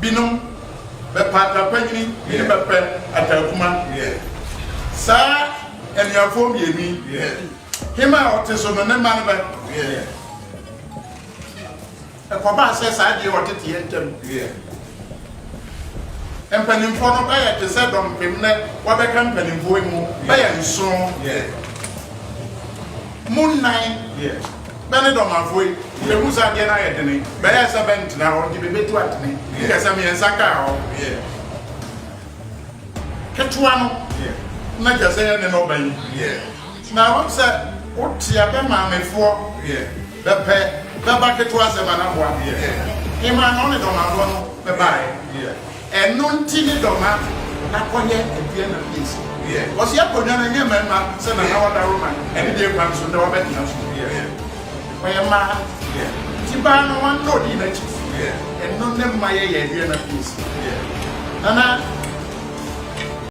Binom bɛpɛ ataapanyin binom bɛpɛ ataakuma saa anuafoɔ mmienu yi hema a ɔte so no ne mma no bɛ ɛkɔbaa sɛ saa deɛ ɔteteɛ ntɛm mpanimfoɔ no bɛyɛ te sɛ dɔmpem nɛ wɔbɛka mpanimfoɔ yi mu bɛyɛ nson mu nnan Bɛ ne dɔm afoi, yehu sɛ adeɛ no ayɛ dene, bɛyɛɛ sɛ bɛntena hɔ nti bebetu atene kɛsɛ mmiɛnsa kaa hɔ, ketewa no na kɛsɛ yɛ ne na ɔba yi, na ɛwɔm sɛ wotea bɛ maamefoɔ bɛpɛ bɛba ketewa sɛ Manaboa, Hemaa na ɔne dɔm afoɔ no bɛbaeɛ. Ɛno nti ne dɔ ma na kɔyɛ ɛdeɛ na bi ɛsi wiɛ ɔsi ɛkɔ nwa no ɛnyɛ mɛma sɛ na na ɔda roma ɛne deɛ kwan so ndɛ wabɛ dea so wiɛ ɔyɛ maa nti baa no wan na ɔdii nakyi wiɛ ɛno ne ma yɛ yɛ ɛdeɛ na bi ɛsi wiɛ na na.